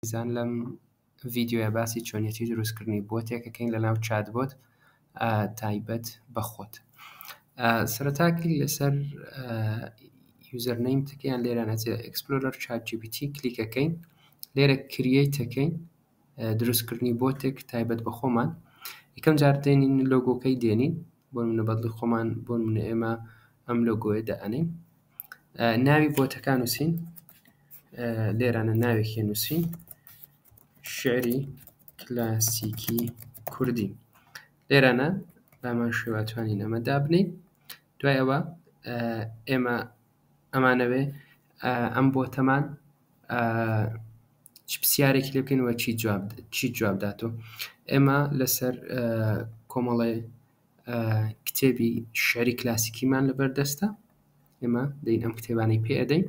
ئازیزان لەم ڤیدیۆیە باسی چۆنیەتی دروست کردنی بۆتێک ئەکەین لەناو چات بۆت تایبەت بە خۆت سەرەتا کلیک لەسەر یوزەر نەیم تکیان لێرە نەچێت ئەکسپلۆرەر چات جیبیتی کلیکەکەین لێرە کریەیتەکەین دروستکردنی بۆتێک تایبەت بە خۆمان یکەم جار دێنین لۆگۆکەی دێنین بۆ نمونە بەدڵی خۆمان بۆ نمونە ئێمە ئەم لۆگۆیە دائەنین ناوی بۆتەکان نووسین لێرانە ناوێکی نووسین شعری کلاسیکی کوردی لێرانە بامان شێواتوانین ئەمە دابنین دوای ئەوە ئێمە ئەمانەوێ ئەم بۆتەمان چ پرسیارێکی لێ بکەین وە چی جواب چی جواب داتۆ ئێمە لەسەر کۆمەڵێ کتێبی شعری کلاسیکیمان لەبەر دەستە ئێمە دەین ئەم کتێبانی پێ ئەدەین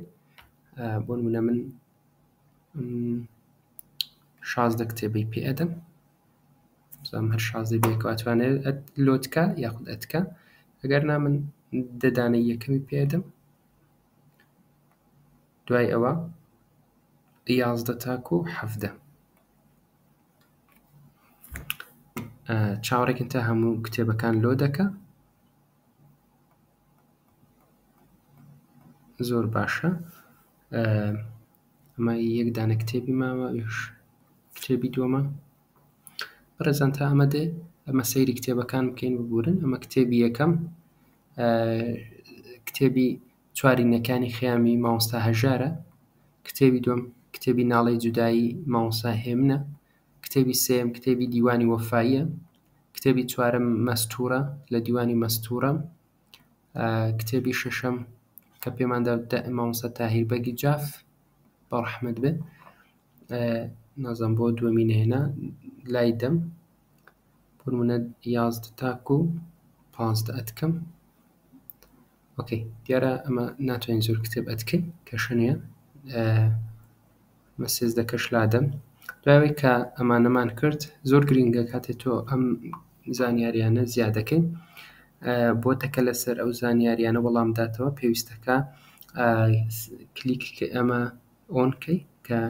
بۆ نمونە من شازدە کتێبی پێ ئەدەم بزانم هەر شازەی بێکە ئەتوانێت ئەت لۆتکە یاخود ئەتکە ئەگەر نا من دەدانە یەکەمی پێدەم دوای ئەوە یازدە تاکو و حەفدە چاوەڕێکن تا هەموو کتێبەکان لۆ دەکە زۆر باشە ئەمە یەک دانە کتێبی ماوە ئەویش کتێبی دووەمە بەڕێزان تا ئەمە دێ ئەمە سەیری کتێبەکان بکەین ببورن ئەمە کتێبی یەکەم کتێبی چوارینەکانی خیامی مامۆستا هەژارە کتێبی دوم کتێبی ناڵی جودایی مامۆسا هێمنە کتێبی سێم کتێبی دیوانی وەفااییە کتێبی چوارم مەستورە لە دیوانی مەستورە کتێبی شەشەم کە پێمان دا مامۆستا تاهیر بەگی جاف بە ڕەحمەت بێ نازم بۆ دووەمی نهێنا لای دەم پرمونە یازدە تاکو و پازدە ئەتکەم ئۆکەی دیارە ئەمە ناتوانین زۆر کتێب ئەتکەین کە شەنەیە بە سێزدەکەش لادەم دوای ئەوەی کە ئەمانەمان کرد زۆر گرنگە کاتێ تۆ ئەم زانیاریانە زیادەکەین بۆ تەکە لەسەر ئەو زانیاریانە وەڵام داتەوە پێویستەکە کلیک ئەمە ئۆنکەی کە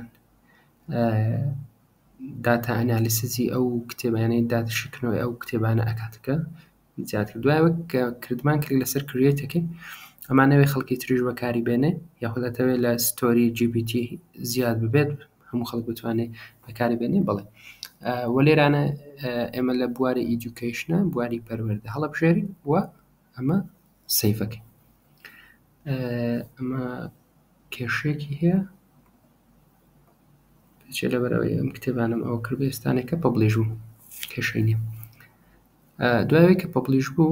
داتا ئەنالیسزی ئەو کتێبانەی داتشکنەوەی ئەو کتێبانە ئەکاتەکە زیاد کرد دوای وەک کردمان کلیک لەسەر کریێت یەکەی ئەمانەوێ خەڵکی تریش بەکاری بێنێ یاخود ئەتەوێت لە ستۆری GPT زیاد ببێت هەموو خەڵک بتوانێت بەکاری بێنێ بڵێ وە لێرانە ئێمە لە بواری ئیدوکیشنە بواری پەروەردە هەڵبژێری و ئەمە سیفەکەی ئەمە کێشێکی هەیە چێ لەبەرەوەی ئەم کتێبانم ئەو کرد ئێستانێکە پبلیژ و کێشەی نیە دوایەوەی کە پۆپلیش بوو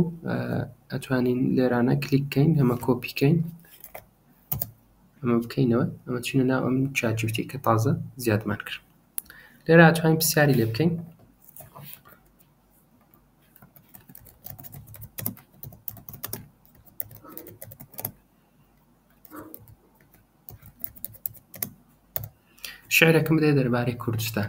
ئەتوانین لێرانە کلیک کەین ئەمە کۆپی کەین ئەمە بکەینەوە ئەمە چینە ناو ئەم چاجوتی کە تازە زیادمان کرد لێرە ئەتوانین پرسیاری لێ بکەین شعرەکەم دێ دەربارەی کوردستان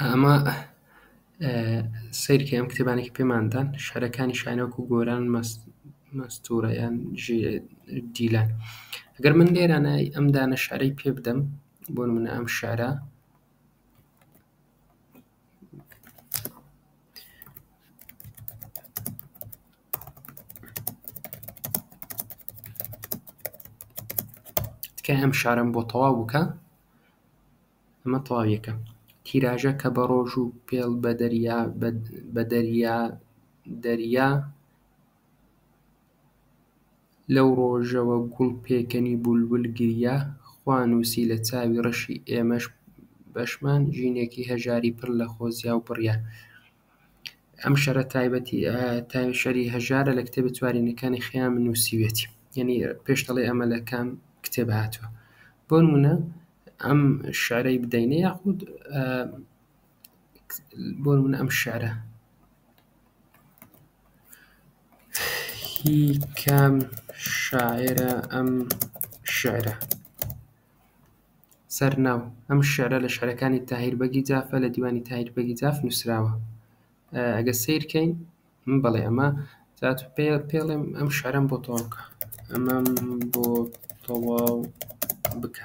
ئەمە سەیرکە ئەم کتێبانێکی پێماندان شارەکانی شانۆک و گۆران مەستورەیان دیلان گەر من لێرانای ئەم دانە شارەی پێ بدەم بۆ منە ئەم شارە کە ئەم شارم بۆ تەواو بکە ئەمە تەواویەکە تیراژە کە بە ڕۆژ و پێڵ بە دەریا بە دەریا دەریا لەو ڕۆژەوە گوڵ پێکەنی بولبول گریا خوا نووسی لە چاوی ڕەشی ئێمەش بەشمان ژینێکی هەژاری پڕ لە خۆزیاو بڕیا ئەم شەرە تایبەتی تای شەری هەژارە لە کتێبە چوارینەکانی خەیام نووسیوێتی یعنی پێش دەڵێ ئەمە لە کام کتێب هاتووە بۆ نمونە ئەم شعرەی بدەینە یاخود بۆ نمونە ئەم شعرە هی کام شاعیرە ئەم شیعرە؟ سەرناو، ئەم شیعرە لە شیعرەکانی تاهیر بەگی جافە لە دیوانی تاهیر بەگی جاف نووسراوە. ئەگەر سەیر کەین، بەڵێ ئەمە جات و پێ پێڵێم ئەم شیعرەم بۆ تەواو بکە. ئەمەم بۆ تەواو بکە.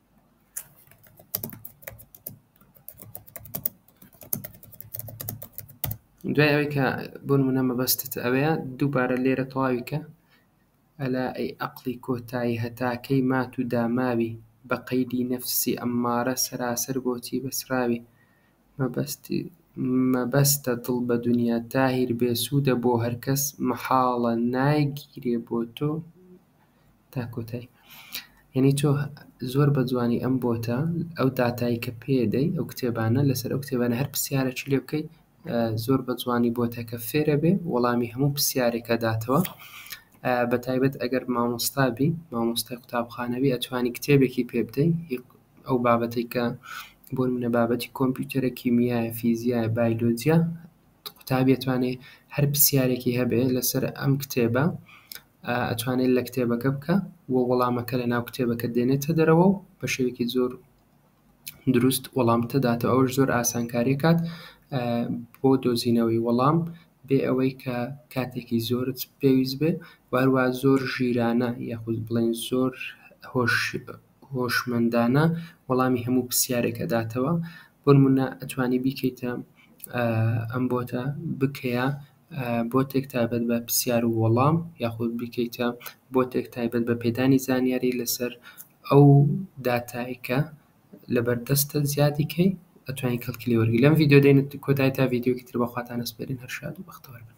دوای ئەوەی کە بۆ نمونە مەبەستت ئەوەیە دووبارە لێرە تەواویکە ئەلا ئەی ئەقلی کۆتایی هەتاکەی مات و داماوی بە قەیدی نەفسی ئەممارە سەراسەر بۆچی بەسراوی مەبەستی مەبەستە دڵ بە دنیا تاهیر بێسوودە بۆ هەرکەس مەحاڵە نایگیرێ بۆ تۆ تا کۆتای یعنی تۆ زۆر بە جوانی ئەم بۆتە ئەو داتایی کە پێدەی ئەو کتێبانە لەسەر ئەو کتێبانە هەر پرسیارەکی لێ بکەیت زۆر بە جوانی بۆتەکە فێرە بێ وەڵامی هەموو پرسیارێکە داتەوە بە تایبەت ئەگەر مامۆستابی مامۆستای قوتابخانەوی ئەتوانی کتێبێکی پێ بدەین ئەو بابەتێک کە بۆ منە بابەتی کۆمپیوتەرە کیمیایە فیزیایە بایلۆجیا قوتابێتوانێ هەر پرسیارێکی هەبێ لەسەر ئەم کتێبە ئەتوانێت لە کتێبەکە بکە و وەڵامەکە لە ناو کتێبەکە دێنێتە دەرەوە و بە شێوێکی زۆر دروست وەڵامتە داتەوە ئەوش زۆر ئاسانکاری کات بۆ دۆزینەوەی وەڵام بێ ئەوەی کە کاتێکی زۆرت پێویست بێ واروا زۆر ژیرانە یاخود بڵێن زۆر هۆش هۆشمەندانە وەڵامی هەموو پرسیارێکە داتەوە بۆ نمونە ئەتوانی بیکەیتە ئەم بۆتە بکەیە بۆتێک تایبەت بە پرسیار و وەڵام یاخود بیکەیتە بۆتێک تایبەت بە پێدانی زانیاری لەسەر ئەو داتای کە لەبەردەستە زیادی کەی ئەتوانی کەڵکی لێ وەرگری لەم ڤیدیۆ دێنێت کۆتای تا ڤیدیۆکی تر بەخواتان ئەسپێرین هەر شاد و بەختەوەر بن